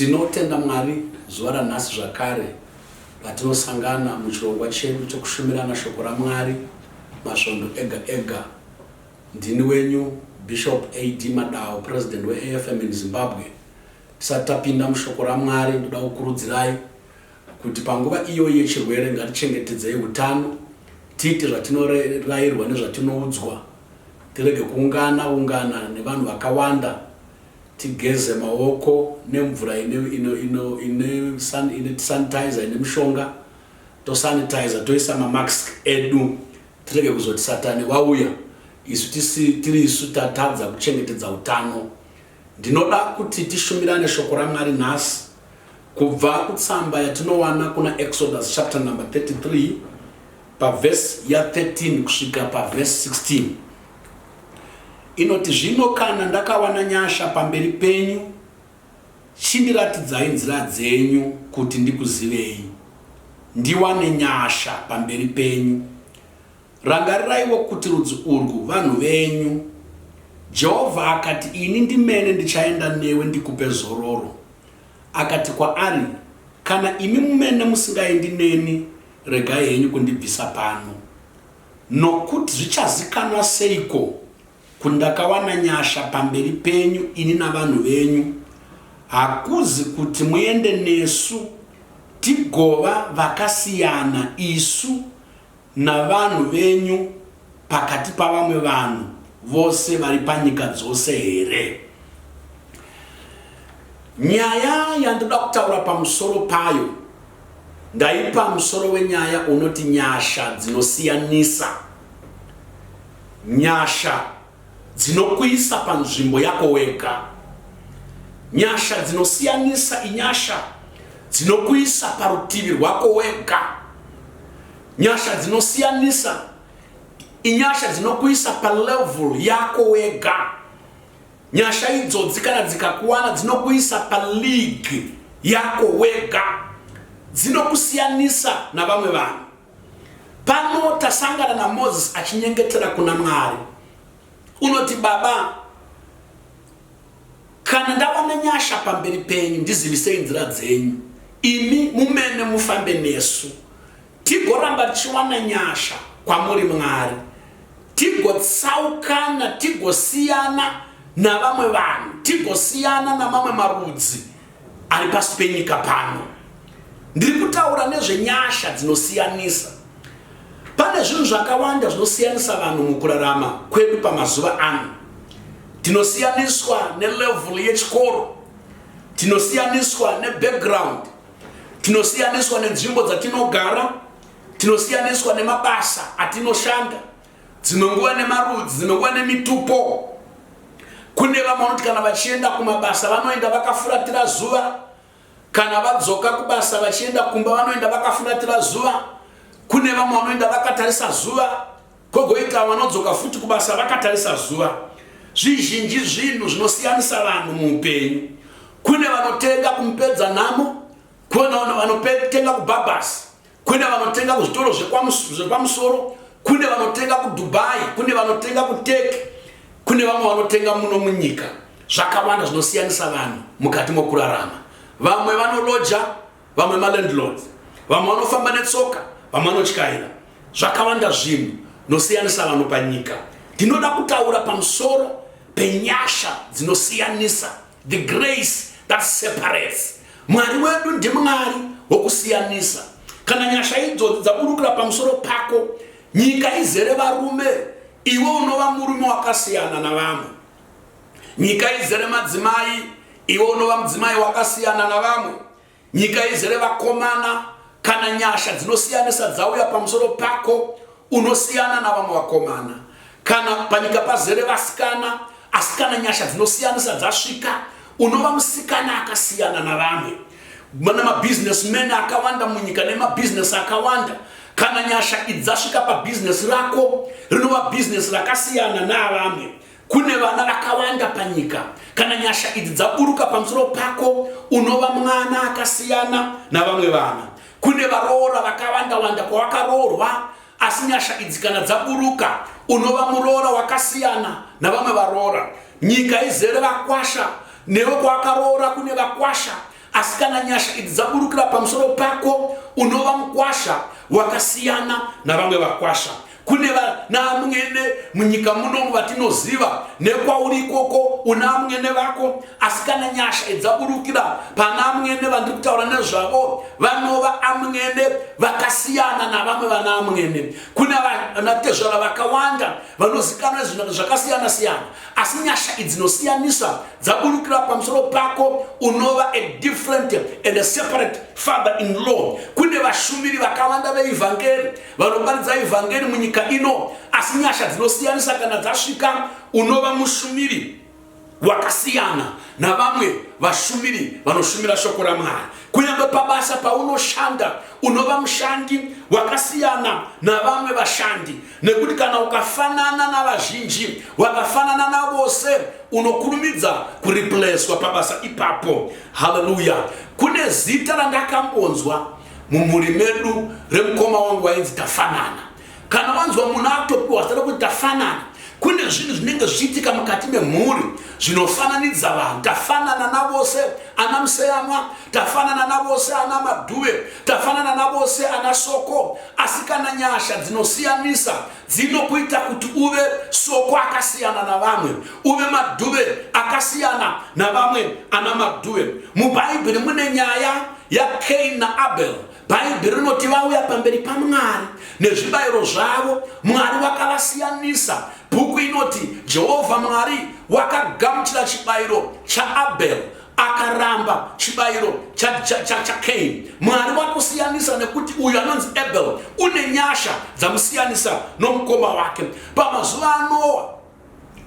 Tinotenda Mwari zuva ranhasi zvakare patinosangana muchirongwa chedu chekushumirana shoko raMwari masvondo ega ega. Ndini wenyu Bishop AD Madawo President weAFM in Zimbabwe. Tisati tapinda mushoko raMwari ndoda kukurudzirai kuti panguva iyoyi yechirwere ngatichengetedzei hutano, tiite zvatinororairwa nezvatinoudzwa, tirege kuungana ungana nevanhu vakawanda, Tigeze maoko nemvura ine ino ino ine san ine sanitizer ine mushonga tosanitizer toisa mamask edu tirege kuzoti satani wauya isu tisi tiri isu tatadza kuchengetedza utano. Ndinoda kuti tishumirane shoko raMwari nhasi kubva kutsamba yatinowana kuna Exodus chapter number 33 pavhesi ya 13 kusvika pavhesi 16. Inoti, Zvino kana ndakawana nyasha pamberi penyu, chindiratidzai nzira dzenyu, kuti ndikuzivei, ndiwane nyasha pamberi penyu. Rangariraiwo kuti rudzi urwu vanhu venyu. Jehovha akati, Ini ndimene ndichaenda newe ndikupe zororo. Akati kwaari, Kana imi mumene musingaendi neni, regai henyu kundibvisa pano. Nokut zvichazikanwa seiko kut ndakawana nyasha pamberi penyu ini navanhu venyu, hakuzi kut muende nesu tigova vakasiyana isu navanhu venyu pakati pavamwe vanhu vose vari panyika dzose here? Nyaya yandoda kutaura pamusoro payo. Ndaipa musoro wenyaya unoti Nyasha Dzinosiyanisa. Nyasha dzinokuisa panzvimbo yako wega. Nyasha Dzinosiyanisa inyasha dzinokuisa parutivi rwako wega. Nyasha Dzinosiyanisa inyasha dzinokuisa palevel yako wega. Nyasha idzodzi kana dzikakuwana dzinokuisa paleague yako wega, dzinokusiyanisa navamwe vanhu. Pano tasangana naMoses achinyengetera kuna Mwari. Unoti, Baba, kana ndava nenyasha pamberi penyu, ndizivisei nzira dzenyu, imi mumene mufambe nesu. Tigoramba tichiwana nyasha kwamuri Mwari, tigotsaukana, tigosiyana navamwe vanhu, tigosiyana namamwe marudzi ari pasi penyika pano. Ndiri kutaura nezvenyasha dzinosiyanisa. Pane zvinhu zvakawanda zvinosiyanisa vanhu mukurarama kwedu pamazuva ano. Tinosiyaniswa nelevhulu yechikoro, tinosiyaniswa nebackground, Tinosiyaniswa nenzvimbo dzatinogara, tinosiyaniswa nemabasa atinoshanda, dzimwe nguva nemarudzi, dzimwe nguva nemitupo. Kune vamwe vanoti kana vachienda kumabasa vanoenda vakafuratira zuva, kana vadzoka kubasa vachienda kumba vanoenda vakafuratira zuva. Kune vamwe vanoenda vakatarisa zuva, Kwogoita vanodzoka futi kubasa vakatarisa zuva. Zvizhinji zvinhu zvinosiyanisa vanhu muupenyu. Kune vanotenga kumupedza nhamo, kune vanotenga kubhabhasi, kune vanotenga kuzvitoro zvepamusoro, kune vanotenga kudubai, kune vanotenga kuteke, kune vamwe vanotenga muno munyika. Zvakawanda zvinosiyanisa vanhu mukati mokurarama. Vamwe vanoloja, vamwe malandlords vamwe vanofamba netsoka vamwe vanotyaira zvakawanda zvinhu nosiyanisa vanhu panyika ndinoda kutaura pamusoro penyasha dzinosiyanisa the grace that separates mwari wedu ndimwari wokusiyanisa kana nyasha idzodzi dzaburukira pamusoro pako nyika izere varume iwe unova murume wakasiyana navamwe Nyika izere madzimai, iwe unova mudzimai wakasiyana navamwe. Nyika izere vakomana, kana nyasha dzinosiyanisa dzauya pamusoro pako, unosiyana navamwe vakomana. Kana panyika pazere vasikana, asi kana nyasha dzinosiyanisa dzasvika, unova musikana akasiyana navamwe. Mana mabusinessmen akawanda munyika nemabusiness akawanda, kana nyasha idzasvika pabusiness rako, rinova business rakasiyana naavamwe. Kune vana vakawanda panyika. Kana nyasha idzi dzaburuka pamusoro pako, unova mwana akasiyana navamwe vana. Kune varoora vakawanda-wanda kwawakaroorwa, asi nyasha idzi kana dzaburuka, unova muroora wakasiyana navamwe varoora. Nyika izere vakwasha, newe kwawakaroora kune vakwasha, Asi kana nyasha idzi dzaburukira pamusoro pako, unova mukwasha wakasiyana navamwe vakwasha. kune vanaamwene munyika munomu vatinoziva nekwauri ikoko una amwene vako asi kana nyasha idzaburukira pana amwene vandiri kutaura nezvavo vanova amwene vakasiyana navamwe vana amwene kune vanatezvara vakawanda vanozikanwa zvakasiyana siyana asi nyasha idzinosiyanisa dzaburukira pamusoro pako unova a different and a separate father in law kune vashumiri vakavanda veivhangeri vanoparidza ivhangeri munyika ino asi nyasha dzinosiyanisa kana dzasvika unova mushumiri wakasiyana navamwe vashumiri vanoshumira shoko ramwari kunyange pabasa paunoshanda unova mushandi wakasiyana navamwe vashandi Nekuti kana ukafanana navazhinji, wakafanana navose, unokurumidza kuripleswa pabasa ipapo. Haleluya! Kune zita randakambonzwa mumhuri medu remukoma wangu wainzi Tafanana. Kana wanzwa munhu atopiwa zita rekuti Tafanana, kune zvinhu zvinenge zvichiitika mukati memhuri zvinofananidza vanhu tafanana navose ana museyamwa tafanana navose ana madhuve tafanana navose ana soko Asi kana nyasha dzinosiyanisa dzinokuita kuti uve soko akasiyana navamwe, uve madhuve akasiyana navamwe ana madhuve. MuBhaibheri mune nyaya yaKain naAbel. Bhaibheri rinoti vauya pamberi paMwari nezvibayiro zvavo, Mwari vakavasiyanisa. Bhuku inoti Jehovha Mwari wakagamuchira chibayiro chaAbel. akaramba chibayiro chakein mwari wakusiyanisa nekuti uyu anonzi abel une nyasha dzamusiyanisa nomukoma wake pamazuva anowa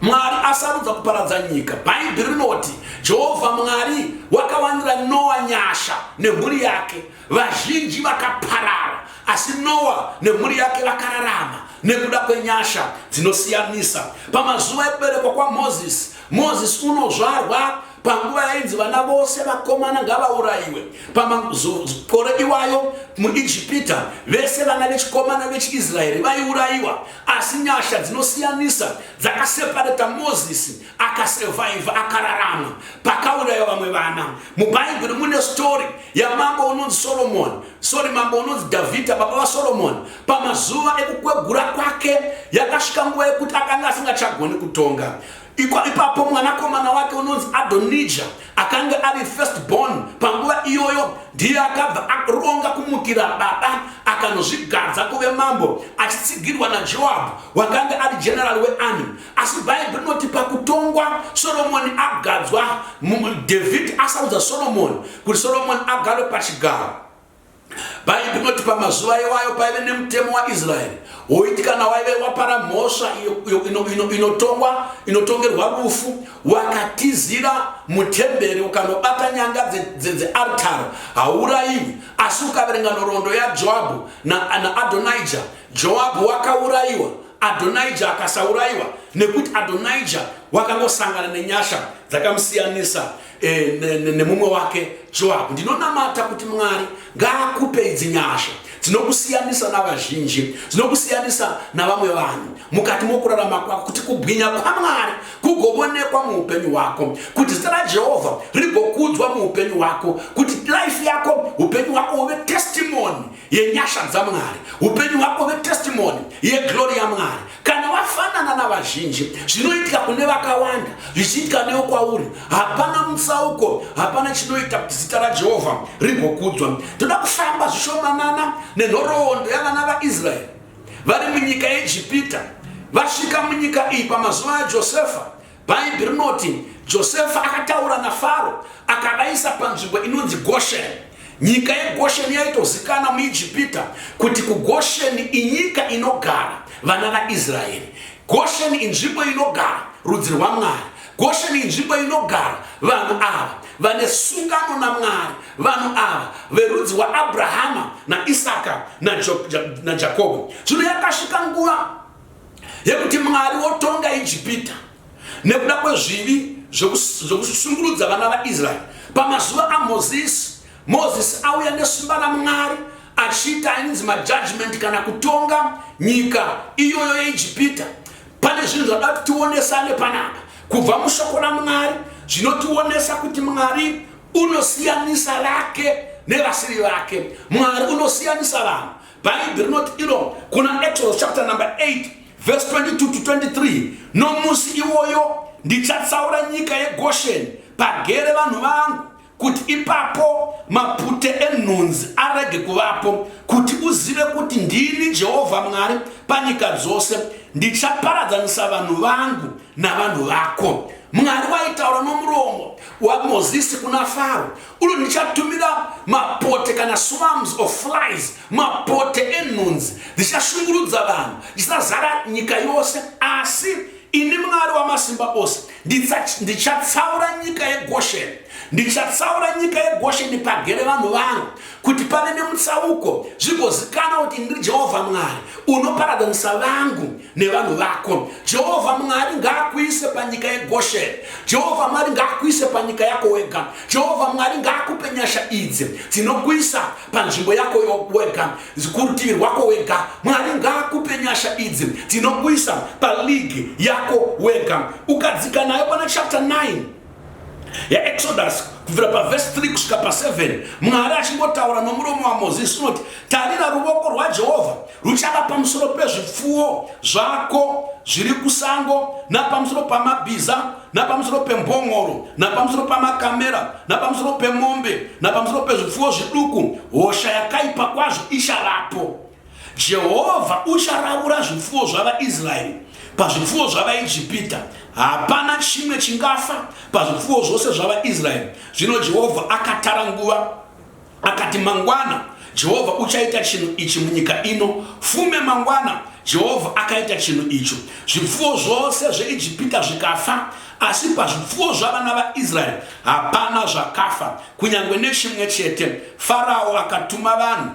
mwari asarudza kuparadza nyika bhaibheri rinoti jehovha mwari wakawanira noa nyasha nemhuri yake Vazhinji vakaparara, asi Noa nemhuri yake vakararama nekuda kwenyasha dzinosiyanisa. Pamazuva ekuberekwa kwaMozisi, Mozisi unozvarwa panguva yainzi vana vose vakomana ngavaurayiwe pamakore iwayo muijipita vese vana vechikomana vechiisraeri vaiurayiwa asi nyasha dzinosiyanisa dzakasepareta mozisi akasurvive akararama pakauraiwa vamwe vana mubhaibheri mune story yamambo unonzi solomoni sorry mambo unonzi dhavhidha baba vasolomoni pamazuva ekukwegura kwake yakasvika nguva yekuti akanga asingachagoni kutonga ipapo mwanakomana wake unonzi adonija akange ari first born panguva iyoyo ndiye akabva aronga kumukira baba akanozvigadza kuve mambo achitsigirwa najoabhu wakange ari general wearmy asi bhaibheri rinoti pakutongwa soromoni agadzwa dhavhidhi asaudza soromoni kuti soromoni agarwe pachigaro bhaibheri rinoti pamazuva iwayo paive nemutemo waisraeri woiti kana waive wapara mhosva inotongwa inotongerwa rufu wakatizira mutemberi ukanobata nyanga dzeartari haurayiwi asi ukaverenga nhoroondo yajoabhu naadhonija Joabhu wakaurayiwa, Adhonija akasaurayiwa nekuti Adhonija wakangosangana nenyasha dzakamusiyanisa e, nemumwe wake Joabhu. Ndinonamata kuti Mwari ngaakupe idzi nyasha dzinokusiyanisa navazhinji, dzinokusiyanisa navamwe vanhu mukati mokurarama kwako, kuti kubwinya kwaMwari kugovonekwa muupenyu hwako, kuti zita raJehovha rigokudzwa muupenyu hwako, kuti life yako, upenyu hwako huve testimony yenyasha dzamwari upenyu hwako vetestimoni yeglori yamwari kana wafanana navazhinji zvinoitika kune vakawanda zvichiitika newo kwauri hapana mutsauko hapana chinoita kuti zita rajehovha rigokudzwa toda kufamba zvishomanana nenhoroondo yavana vaisraeri vari munyika yejipita vasvika munyika iyi pamazuva ajosefa Bhaibheri rinoti Josefa akataura naFaro akavaisa panzvimbo inonzi Gosheni. Nyika yeGosheni yaitozikana muIjipita kuti kuGosheni inyika inogara vana vaIsraeri. Gosheni inzvimbo inogara rudzi rwaMwari. Gosheni inzvimbo inogara vanhu ava vane sungano naMwari, vanhu ava verudzi waAbrahama naIsaka naJakobo. Zvino yakasvika nguva yekuti mwari wotonga ijipita nekuda kwezvivi zvekushungurudza vana vaisraeri pamazuva amozisi mozisi auya nesimba ramwari achiita ainzi majudgment kana kutonga nyika iyoyo yeijipita pane zvinhu zvada kuti tionesane panapa kubva mushoko ramwari zvinotionesa kuti mwari unosiyanisa vake nevasiri vake mwari unosiyanisa vanhu Bhaibheri rinoti iro kuna Exodus chapter number 8 verse 22 to 23, nomusi iwoyo ndichatsaura nyika yeGosheni pagere vanhu vangu kuti ipapo mapute enhunzi arege kuvapo kuti uzive kuti ndini jehovha mwari panyika dzose ndichaparadzanisa vanhu vangu navanhu vako mwari waitaura nomuromo wamozisi kuna faro ulo ndichatumira mapote kana swams of flies mapote enhunzi ndichashungurudza vanhu ndisazara nyika yose asi ini mwari wamasimba ose ndichatsaura nyika yegosheni ndichatsaura nyika yegosheni pagere vanhu vangu kuti pave nemutsauko zvigozikana kuti ndiri jehovha mwari unoparadzanisa vangu nevanhu vako jehovha mwari ngaakuise panyika yegosheni jehovha mwari ngaakuise panyika yako wega jehovha mwari ngaakupe nyasha idzi dzinokuisa panzvimbo yako wega kurutivi rwako wega mwari ngaakupe nyasha idzi dzinokuisa paligi yako wega ukadzika nayo pana chapter 9 yeExodus kubvira pavhesi 3 kusvika pa7 mwari achingotaura nomuromo wamozisi unoti tarira ruvoko rwajehovha ruchava pamusoro pezvipfuwo zvako zviri kusango napamusoro pamabhiza napamusoro pembongoro napamusoro pamakamera napamusoro pemombe napamusoro pezvipfuwo zviduku hosha yakaipa kwazvo ichavapo Jehovha ucharavura zvipfuwo zvavaIsraeri pazvipfuwo zvavaIjipita. Hapana chimwe chingafa pazvipfuwo zvose zvavaIsraeri. Zvino Jehovha akatara nguva, akati, Mangwana Jehovha uchaita chinhu ichi munyika ino. Fume mangwana Jehovha akaita chinhu icho. Zvipfuwo zvose zveIjipita zvikafa, asi pazvipfuwo zvavana vaIsraeri hapana zvakafa, kunyange nechimwe chete. Farao akatuma vanhu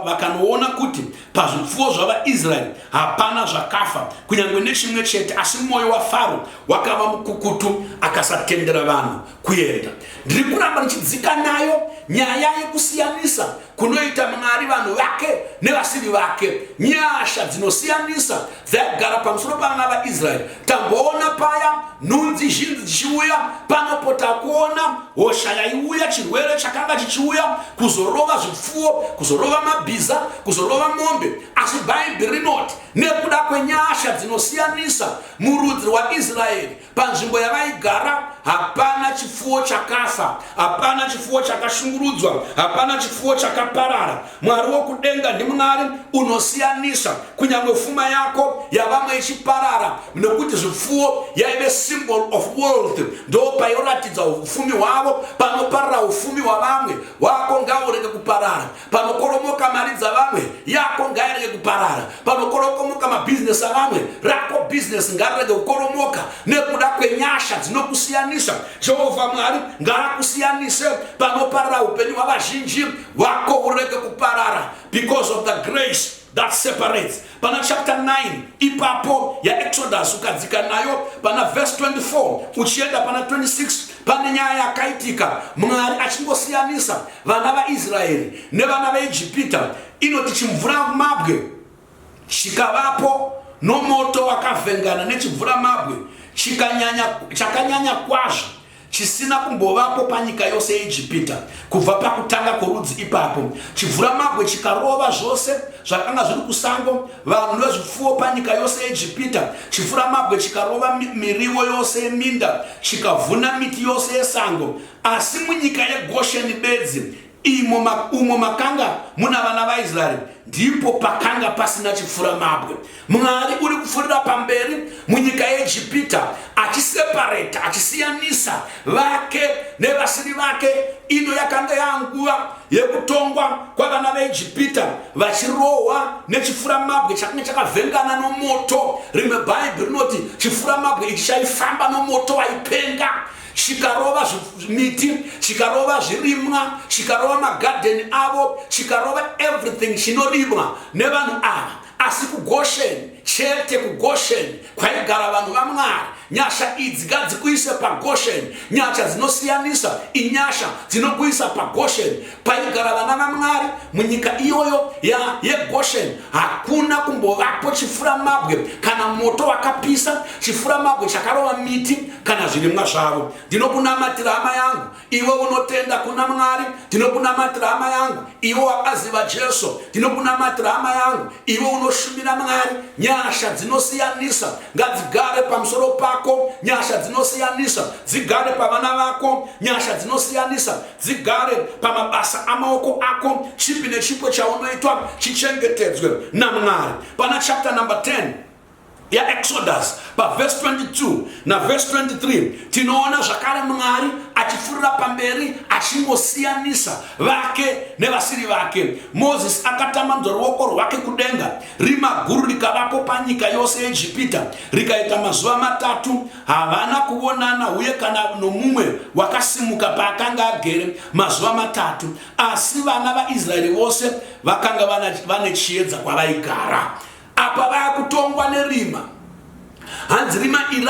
vakanoona kuti pazvipfuwo zvavaisraeri hapana zvakafa kunyange nechimwe chete asi mwoyo wafaro wakava mukukutu akasatendera vanhu kuenda ndiri kuramba ndichidzika nayo nyaya yekusiyanisa kunoita mwari vanhu vake nevasiri vake nyasha dzinosiyanisa dzaigara pamusoro pavana vaisraeri tamboona paya nhunzi zhinzi dzichiuya panopota kuona hosha yaiuya chirwere chakanga chichiuya kuzorova zvipfuwo kuzorova mabhiza kuzorova mombe asi bhaibheri rinoti nekuda kwenyasha dzinosiyanisa murudzi rwaisraeri panzvimbo yavaigara hapana chipfuwo chakafa hapana chipfuwo chakashungurudzwa hapana chipfuwo chakaparara mwari wokudenga ndimwari unosiyanisa kunyange fuma yako yavamwe ichiparara nokuti zvipfuwo yaive symbol of world ndo payoratidza ufumi hwavo panoparara ufumi hwavamwe wako ngaurege kuparara panokoromoka mari dzavamwe yako ngairege kuparara panokorokomoka mabhizinesi avamwe rako bhizinesi ngarirege kukoromoka nekuda kwenyasha dzinokusiyanisa jehovha mwari ngaakusiyanise panoparara upenyu hwavazhinji wako urege kuparara because of the grace that separates pana chapter 9 ipapo yaexodus ukadzika nayo pana verse 24 uchienda pana 26 pane nyaya yakaitika mwari achingosiyanisa vana vaisraeri nevana veijipita inoti chimvura mabwe chikavapo nomoto wakavhengana nechimvura mabwe chakanyanya kwazvo chisina kumbovapo panyika yose yeijipita kubva pakutanga kworudzi ipapo chibvuramabwe chikarova zvose zvakanga zviri kusango vanhu vezvipfuwo panyika yose yeijipita chibvuramabwe chikarova miriwo yose yeminda chikavhuna miti yose yesango asi munyika yegosheni bedzi Imo ma, umo makanga muna vana vaisraeri ndipo pakanga pasina chifuramabwe mwari uri kupfurira pamberi munyika yeegipita achisepareta achisiyanisa vake nevasiri vake ino yakanga yanguva yekutongwa kwavana veegipita vachirohwa nechifuramabwe chakanga chakavhengana nomoto rimwe bhaibhi rinoti chifuramabwe ichi chaifamba nomoto waipenga chikarova miti chikarova zvirimwa chikarova magadheni avo chikarova everything chinorimwa nevanhu ava asi kugosheni chete kugosheni kwaigara vanhu vamwari nyasha idzi ngadzikuise pagosheni nyasha dzinosiyanisa inyasha dzinokuisa pagosheni paigara vana vamwari munyika iyoyo yegosheni hakuna kumbovapo chifuramabwe kana moto wakapisa chifuramabwe chakarova miti kana zvirimwa zvavo ndinokunamatira hama yangu iwe unotenda kuna mwari ndinokunamatira hama yangu iwe wakaziva jesu ndinokunamatira hama yangu iwe unoshumira mwari nyasha dzinosiyanisa ngadzigare pamusoro pako nyasha dzinosiyanisa dzigare pavana vako nyasha dzinosiyanisa dzigare pamabasa amaoko ako chipi nechipo chaunoitwa chichengetedzwe namwari pana chapter number 10 yaexodus pavhesi 22 navhesi 23 tinoona zvakare mwari achifurira pamberi achingosiyanisa vake nevasiri vake mozisi akatambanudza ruoko rwake kudenga rima guru rikavapo panyika yose yeegipita rikaita mazuva matatu havana kuvonana uye kana nomumwe wakasimuka paakanga agere mazuva matatu, asi vana vaIsraeri vose vakanga vane chiedza kwavaigara. Apa vaya kutongwa nerima, hanzi rima iri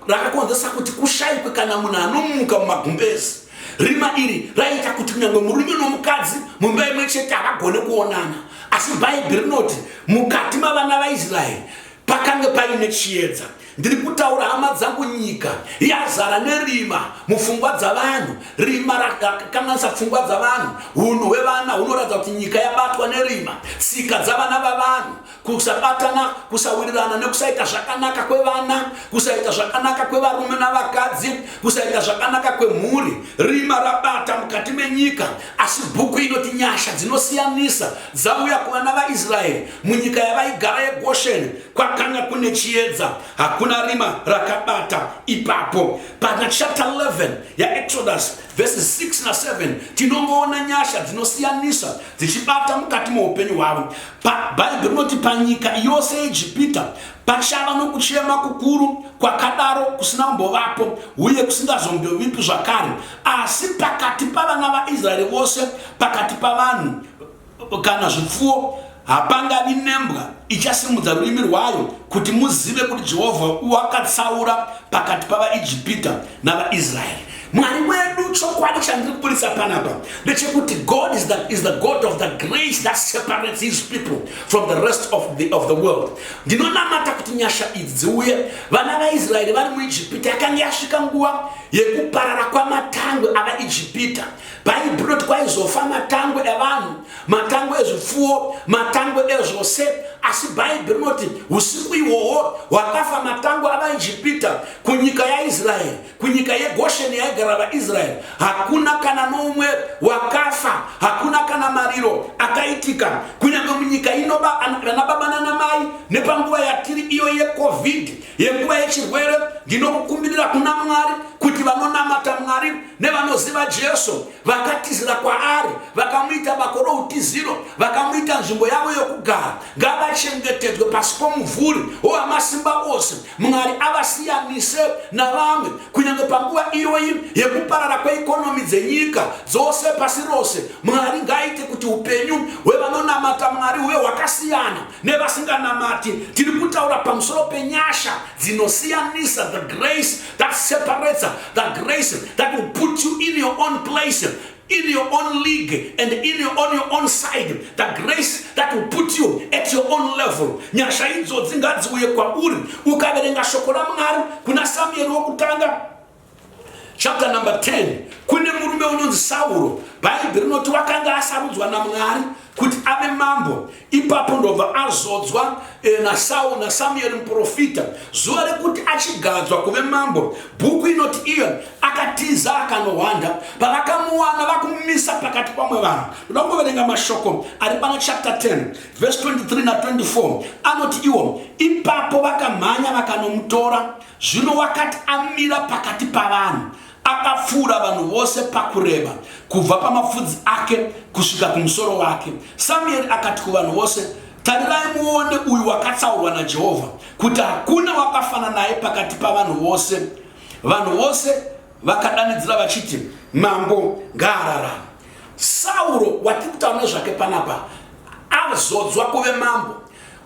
rakakonzesa kuti kushaikwe kana munhu anomuka mumagumbezi. Rima iri raiita kuti kunyange murume nomukadzi mumba imwe chete havagone kuonana, asi Bhaibheri rinoti mukati mavana vaIsraeri Pakange paine chiedza. Ndiri kutaura hama dzangu nyika yazara nerima mufungwa dzavanhu rima rakakanganisa pfungwa dzavanhu hunhu hwevana hunoratidza kuti nyika yabatwa nerima tsika dzavana vavanhu kusabatana kusawirirana nekusaita zvakanaka kwevana kusaita zvakanaka kwevarume navakadzi kusaita zvakanaka kwemhuri rima rabata mukati menyika asi bhuku inoti nyasha dzinosiyanisa dzauya kuvana vaisraeri Munyika yavaigara yeGosheni kwakanga kune chiedza, hakuna rima rakabata ipapo. Pana chapter 11 yaExodus verses 6 na 7 tinongoona nyasha dzinosiyanisa dzichibata mukati meupenyu hwavo. Bhaibheri rinoti panyika yose yeEgipita pachava nokuchema kukuru kwakadaro kusina kumbovapo uye kusingazombovipi zvakare, asi pakati pavana vaIsraeri vose, pakati pavanhu kana zvipfuwo, hapangavi nembwa ichasimudza rurimi rwayo, kuti muzive kuti Jehovha wakatsaura pakati pavaIjipita navaIsraeri. Mwari wedu, chokwadi chandiri kuburitsa panapa ndechekuti God is the, is the God of the grace that separates his people from the rest of the, of the world. Ndinonamata kuti nyasha idzi dziuye. Vana vaIsraeri vari muIjipita, yakanga yasvika nguva yekuparara kwamatangwe avaIjipita. bhaibheri rinoti kwaizofa matango evanhu matango ezvipfuwo matango ezvose asi bhaibheri rinoti usiku ihwohwo hwakafa matango avaijipita kunyika yaisraeri kunyika yegosheni yaigara vaisraeri hakuna kana noumwe wakafa hakuna kana mariro akaitika kunyange munyika ino vana baba nana mai nepanguva yatiri iyo yecovid yenguva yechirwere ndinokukumbirira kuna mwari kuti vanonamata mwari nevanoziva jesu vakatizira kwaari vakamuita bako routiziro vakamuita nzvimbo yavo yokugara ngavachengetedzwe pasi pomuvhuri wowamasimba ose mwari avasiyanise navamwe kunyange panguva iyoyi yekuparara kweikonomi dzenyika dzose pasi rose mwari ngaaite kuti upenyu hwevanonamata mwari huve hwakasiyana nevasinganamati tiri kutaura pamusoro penyasha dzinosiyanisa the grace that separates the grace that will put you in your own place in your own league and in your, on your own side the grace that will put you at your own level nyasha idzo dzingadziuye kwauri ukaverenga shoko ramwari kuna samueri wokutanga Chapter number 10 kune murume unonzi Sauro bhaibheri rinoti wakanga asarudzwa naMwari kuti ave mambo ipapo ndobva azodzwa eh, naSauro naSamueri muprofita zuva rekuti achigadzwa kuve mambo bhuku inoti iyo akatiza akanohwanda pavakamuwana vakumumisa pakati pamwe vanhu ndoda kungoverenga mashoko ari pana chapter 10 verse 23 na 24 anoti iwo ipapo vakamhanya vakanomutora Zvino wakati amira pakati pavanhu, akapfuura vanhu vose pakureba, kubva pamapfudzi ake kusvika kumusoro wake. Samueri akati kuvanhu vose, Tarirai muone uyu wakatsaurwa naJehovha, kuti hakuna wakafana naye pakati pavanhu vose. Vanhu vose vakadanidzira vachiti, Mambo ngaararame! Sauro watiri kutaura nezvake panapa azodzwa kuve mambo.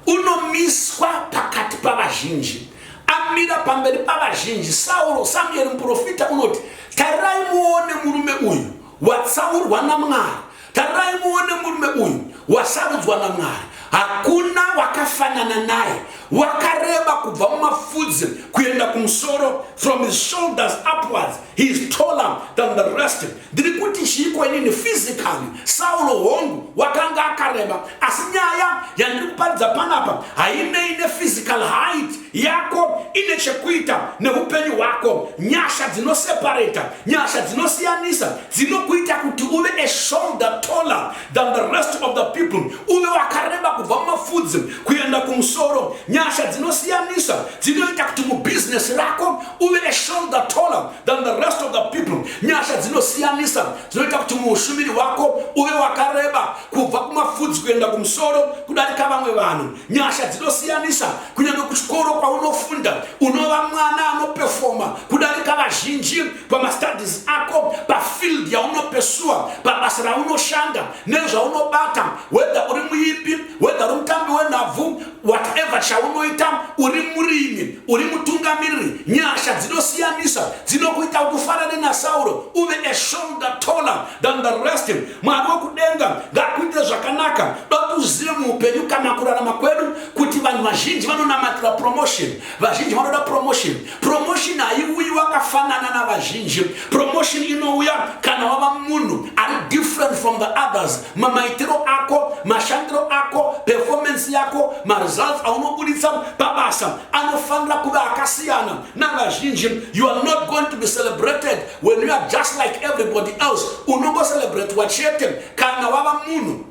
unomiswa pakati pavazhinji amira pamberi pavazhinji sauro samueri muprofita unoti tarirai muone murume uyu watsaurwa namwari tarirai muone murume uyu wasarudzwa namwari hakuna wakafanana naye wakareba kubva mumafudzi kuenda kumusoro from his shoulders upwards he is taller than the rest Ndiri kuti chiiko inini physically Saulo hongu wakanga akareba asi nyaya yandiri kuparidza panapa hainei nephysical height yako ine chekuita neupenyu hwako nyasha dzinoseparata nyasha dzinosiyanisa dzinokuita kuti uve a shoulder taller than the rest of the people uve wakareba kubva mumafudzi kuenda kumusoro nyasha dzinosiyanisa dzinoita kuti mubizinesi rako uve a shoulder taller than the rest of the people nyasha dzinosiyanisa dzinoita kuti muushumiri wako uve wakareba kubva kumafudzi kuenda kumusoro kudarika vamwe vanhu nyasha dzinosiyanisa kunyange kuchikoro kwaunofunda unova mwana anopefoma kudarika vazhinji pamastudis ako pafield yaunopesuwa pabasa raunoshanda nezvaunobata wedha uri muipi wedha uri mutambi wenhabvu whatever chaunoita uri murimi uri mutungamiriri nyasha dzinosiyanisa dzinokuita kuti ufanane nasauro uve a shoulder taller than the rest mwari wekudenga ngakuite zvakanaka datuzive muupenyu kana kurarama kwedu kuti vanhu vazhinji vanonamatira promotion vazhinji vanoda promotion Promotion haiuyi wakafanana navazhinji. Promotion inouya kana wava munhu ari different from the others. Mamaitiro ako, mashandiro ako, performance yako, maresults aunobuditsa pabasa anofanira kuva akasiyana navazhinji. You are not going to be celebrated when you are just like everybody else. Unongocelebratiwa chete kana wava munhu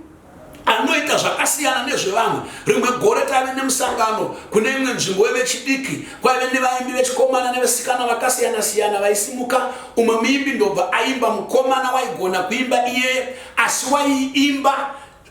anoita zvakasiyana nezvevanhu rimwe gore taive nemusangano kune imwe nzvimbo wevechidiki kwaive nevaimbi vechikomana nevesikana vakasiyana siyana vaisimuka umwe muimbi ndobva aimba mukomana waigona kuimba iyeye asi waiimba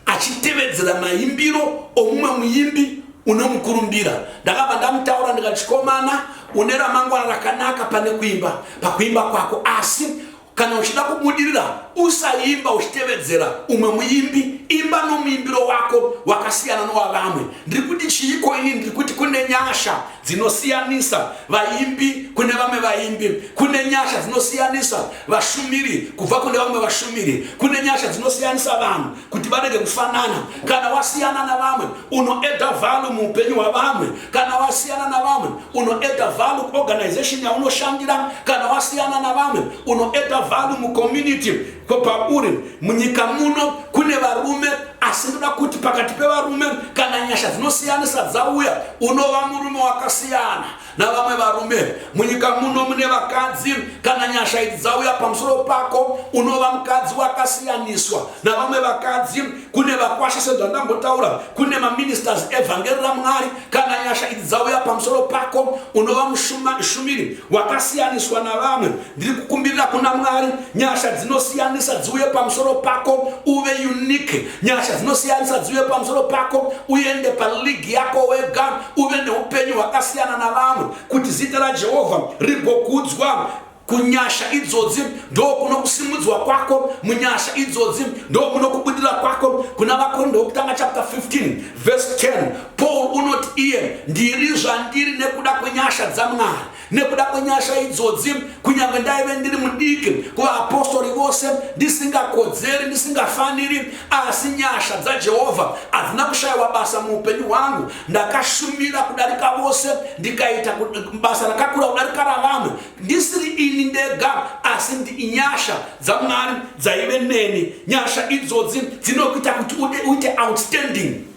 achitevedzera maimbiro omumwe muimbi unomukurumbira ndakabva ndamutaura ndikati chikomana une ramangwana rakanaka pane kuimba pakuimba kwako asi Kana uchida kubudirira, usaimba uchitevedzera umwe muimbi. Imba nomuimbiro wako wakasiyana nowavamwe. Ndiri kuti chiiko ini? Ndiri kuti kune nyasha dzinosiyanisa vaimbi kune vamwe vaimbi. Kune nyasha dzinosiyanisa vashumiri kubva kune vamwe vashumiri. Kune nyasha dzinosiyanisa vanhu. kuti varege kufanana kana wasiyana navamwe unoeda vhalu muupenyu hwavamwe kana wasiyana navamwe unoeda vhalu kuorganization yaunoshandira kana wasiyana navamwe unoeda vhalu mucommunity kwapauri munyika muno kune varume asi ndoda kuti pakati pevarume kana nyasha dzinosiyanisa dzauya unova murume wakasiyana navamwe varume munyika muno mune vakadzi kana nyasha idzi dzauya pamusoro pako unova mukadzi wakasiyaniswa navamwe vakadzi kune vakwasha sezvandambotaura kune maministers evhangeri ramwari kana nyasha idzi dzauya pamusoro pako unova mushumiri wakasiyaniswa navamwe ndiri kukumbirira kuna mwari nyasha dzinosiyanisa dziuye pamusoro pako uve unique nyasha dzinosiyanisa dziuye pamusoro pako uende paligi yako wega uve neupenyu hwakasiyana navamwe kuti zita rajehovha rigokudzwa kunyasha idzodzi ndo kuno kusimudzwa kwako munyasha idzodzi ndo kuno kubudira kwako kuna vakorinda wokutanga chapter 15 verse 10 paul unoti iye ndiri zvandiri nekuda kwenyasha dzamwari nekuda kwenyasha idzodzi kunyange ndaive ndiri mudiki kuvaapostori vose ndisingakodzeri ndisingafaniri asi nyasha dzajehovha hadzina kushayiwa basa muupenyu hwangu ndakashumira kudarika vose ndikaita basa rakakura kudarika ravanhu ndisiri ini ndega asi ndinyasha dzamwari dzaive neni nyasha idzodzi dzinokuita kuti uite outstanding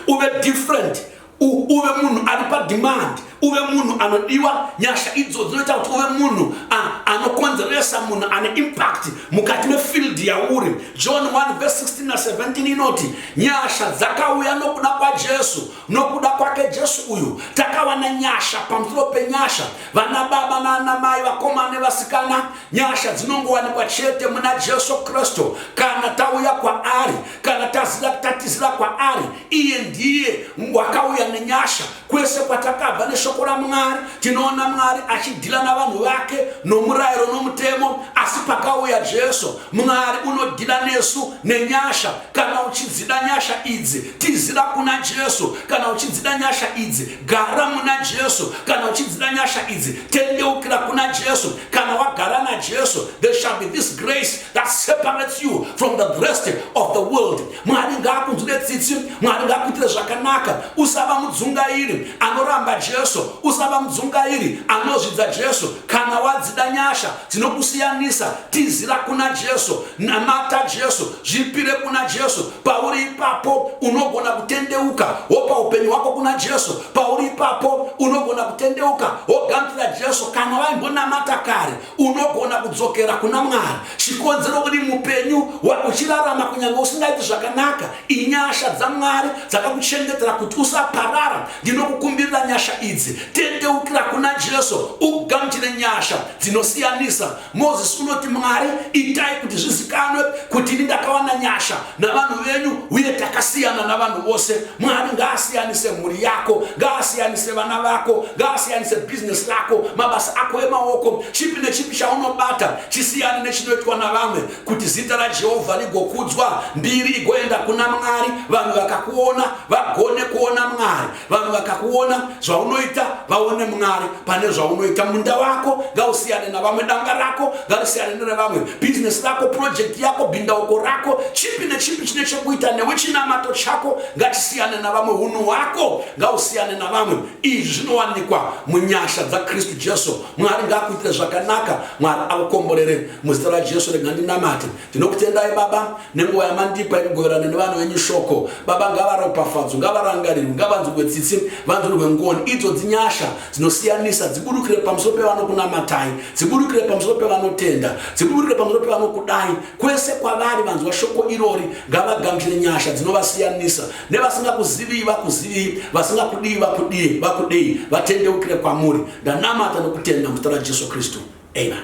uve different uve munhu ari pademand uve munhu anodiwa nyasha idzo dzinoita kuti uve munhu anokonzeresa munhu ane impact mukati mefield yauri john 1 vs 16 na 17 inoti nyasha dzakauya nokuda kwajesu nokuda kwake jesu uyu takawana nyasha pamusoro penyasha vana baba naana mai vakomana nevasikana nyasha dzinongowanikwa chete muna jesu kristu kana tauya kwaari kana taziva tatizira kwaari iye ndiye wakauya nenyasha kwese kwatakabva neshoko ramwari tinoona mwari achidhila navanhu vake nomurayiro nomutemo asi pakauya jesu mwari unodhila nesu nenyasha kana uchidzida nyasha idzi tizira kuna jesu kana uchidzida nyasha idzi Gara muna Jesu kana uchidzida nyasha idzi, tendeukira kuna Jesu. Kana wagara naJesu, there shall be this grace that separates you from the rest of the world. Mwari ngaakunzwire tsitsi, Mwari ngaakuitire zvakanaka. Usava mudzungairi anoramba Jesu, usava mudzungairi anozvidza Jesu. Kana wadzida nyasha dzinokusiyanisa, tizira kuna Jesu, namata Jesu, zvipire kuna Jesu, pauri ipapo unogona kutendeuka wopa upenyu hwako kuna jesu pauri ipapo unogona kutendeuka wogamuchira jesu kana vaimbonamata kare unogona kudzokera kuna mwari chikonzero kuti mupenyu uchirarama kunyange usingaiti zvakanaka inyasha dzamwari dzakakuchengetera kuti usaparara ndinokukumbirira nyasha idzi tendeukira kuna jesu ugamuchire nyasha dzinosiyanisa Mozisi unoti, Mwari, itai kuti zvizikanwe kuti ini ndakawana nyasha navanhu venyu, uye takasiyana navanhu vose. Mwari ngaasiyanise mhuri yako, ngaasiyanise vana vako, ngaasiyanise bhizinesi rako, mabasa ako emaoko, chipi nechipi chaunobata chisiyane nechinoitwa navamwe, kuti zita raJehovha rigokudzwa, mbiri igoenda kuna Mwari, vanhu vakakuona vagone kuona Mwari. vanhu vakakuona zvaunoita vaone mwari pane zvaunoita munda wako ngausiyane navamwe danga rako ngarisiyane nerevamwe bhizinesi rako purojekti yako bhindauko rako chipi nechipi chine chekuita newe chinamato chako ngatisiyane navamwe unhu hwako ngausiyane navamwe izvi zvinowanikwa munyasha dzakristu jesu mwari ngaakuitire zvakanaka mwari akukomborere muzita rajesu regandinamate Ndinokutendai Baba nenguva yamandipa yekugoverana nevana venyu shoko. Baba ngavaropafadzwe, ngavarangarirwe, ngavanzwirwe tsitsi, vanzwirwe ngoni. Idzo dzinyasha dzinosiyanisa dziburukire pamusoro pevanokunamatai, dziburukire pamusoro pevanotenda, dziburukire pamusoro pevanokudai. Kwese kwavari vanzwa shoko irori, ngavagamuchire nyasha dzinovasiyanisa. Nevasingakuziviyi vakuziviyi, vasingakudiyi vakudiye, vakudei, vatendeukire kwamuri. Ndanamata nokutenda muzita raJesu Kristu. Amen.